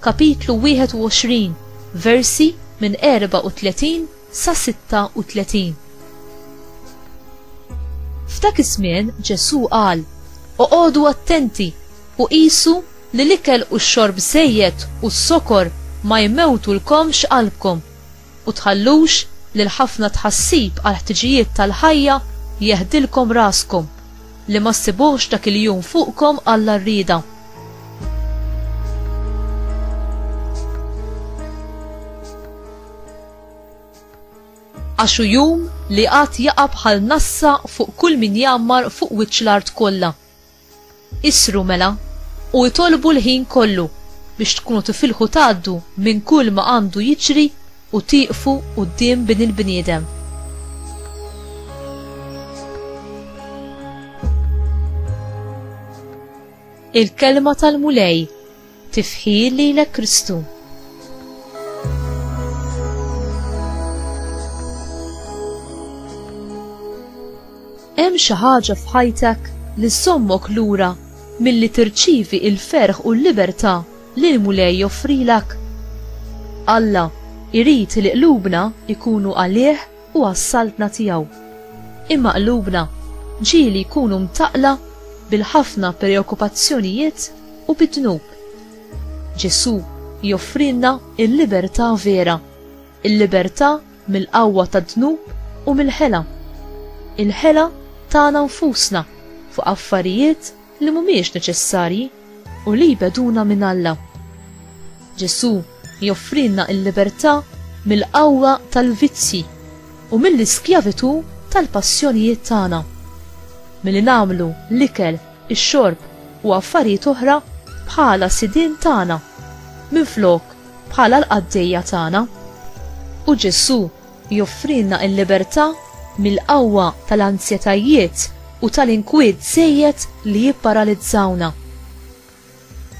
Kapitlu 21, versi minn 34 sa 36. F'dak iż-żmien Ġesù qal, Oqogħdu attenti u qisu li l-ikel u x-xorb żejjed u s-sokor ma jmewtulkomx qalbkom. U tħallux li l-ħafna tħassib għall-ħtiġijiet tal-ħajja jeħdilkom raskom, li ma ssibuhx dak il-jum fuqkom Alla rrieda. Għax hu jum li għad jaqa' bħal nassa fuq kull min jgħammar fuq wiċċ l-art kollha. Isru mela, u itolbu l-ħin kollu biex tkunu tifilħu tgħaddu minn kulma għandu jiġri u tieqfu quddiem Bin il-bniedem. Il-Kelma tal-Mulej. Tifħi lilek Kristu. Hemm xi ħaġa f'ħajtek li sommok lura milli tirċivi il-ferħ u l-libertà li l-Mulej joffrilek. Alla irid li qlubna ikunu għalih u għas-Saltna tiegħu. Imma qlubna ġieli jkunu mtaqqla bil-ħafna preokkupazzjonijiet u bid-dnub. Ġesù joffrilna l-libertà vera, il-libertà mill-qawwa tad-dnub u mill-ħela. Il-ħela tagħna nfusna fuq affarijiet li mhumiex neċessarji. u li jbegħduna minn Alla. Ġesù joffrilna l-libertà mill-qawwa tal-vizzji u mill-iskjavitù tal-passjonijiet tagħna. Milli nagħmlu l-ikel, ix-xorb u affarijiet oħra bħala sidien tagħna minflok bħala l-qaddejja tagħna. U Ġesù Joffrilna l-libertà mill-qawwa tal-anzjetajiet u tal-inkwiet żejjed li jipparalizzawna.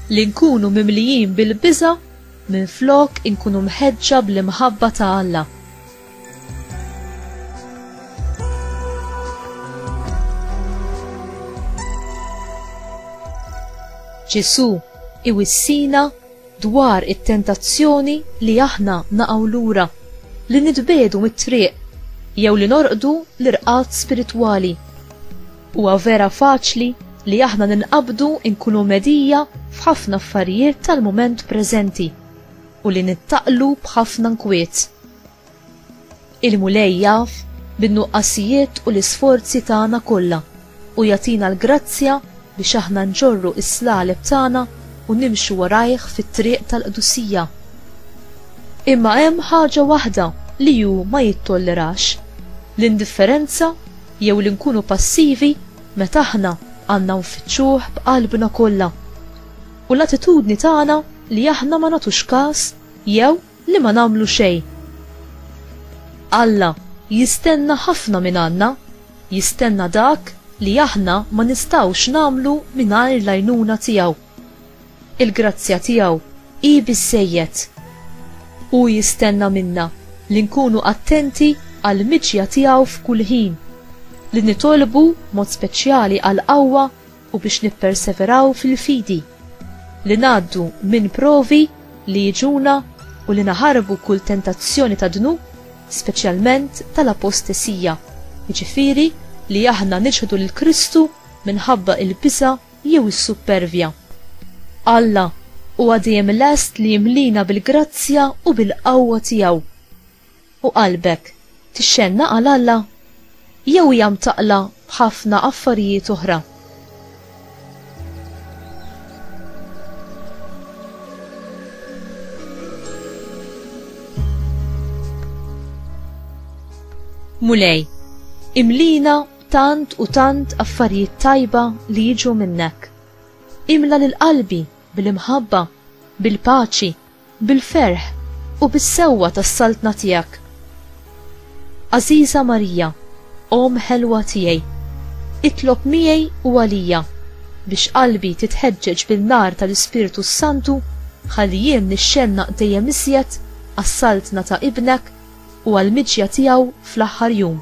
Li nkunu mimlijin bil-biża' minflok inkunu mħeġġa bl-imħabba ta' Alla. Ġesù iwissina dwar it-tentazzjoni li aħna naqgħu lura, li nitbiegħdu mit-triq, jew li norqdu l-irqad spiritwali. Huwa vera faċli li aħna ninqabdu nkunu mhedija f'ħafna affarijiet tal-mument preżenti u li nittaqlu b'ħafna nkwiet. Il-Mulej jaf bin-nuqqasijiet u l-isforzi tagħna kollha u jagħtina l-grazzja biex aħna nġorru s-slaleb tagħna u nimxu warajh fit-triq tal-qdusija. Imma hemm ħaġa waħda li hu ma jittollerax, l-indifferenza jew li nkunu passivi meta aħna għandna nfittxuh b'qalbna kollha, u l-attitudni tagħna li aħna ma nagħtux każ jew Li ma nagħmlu xejn. Alla jistenna ħafna mingħandna, jistenna dak li aħna ma nistgħux nagħmlu mingħajr l-għajnuna tiegħu. Il-grazzja tiegħu hi biżżejjed. Hu jistenna minna li nkunu attenti għall-miġja tiegħu f'kull ħin, li nitolbu b'mod speċjali għall-qawwa, u biex nipperseveraw fil-fidi, li ngħaddu minn provi li jiġuna u li naħarbu kull tentazzjoni tad-dnub, speċjalment tal-apostesija, jiġifieri li aħna niċħdu lil Kristu minħabba l-biża' jew is-suppervja. Alla huwa dejjem lest li jimliena bil-grazzja u bil-qawwa tiegħu. u qalbek tixxennaq għal Alla jew hija mtaqqla b'ħafna affarijiet oħra? Mulej, imlina b'tant u tant affarijiet tajba li jiġu minnek. Imla lil qalbi bil-imħabba, bil-paċi, Bil-ferħ u bis-sewwa tas-Saltna tiegħek. Għażiża Marija, Omm ħelwa tiegħi, itlob miegħi u għalija biex qalbi titħeġġeġ bin-nar tal-Ispirtu s-Santu ħalli jien nixxennaq dejjem iżjed għas-Saltna ta' Ibnek u għall-miġja tiegħu fl-aħħar jum.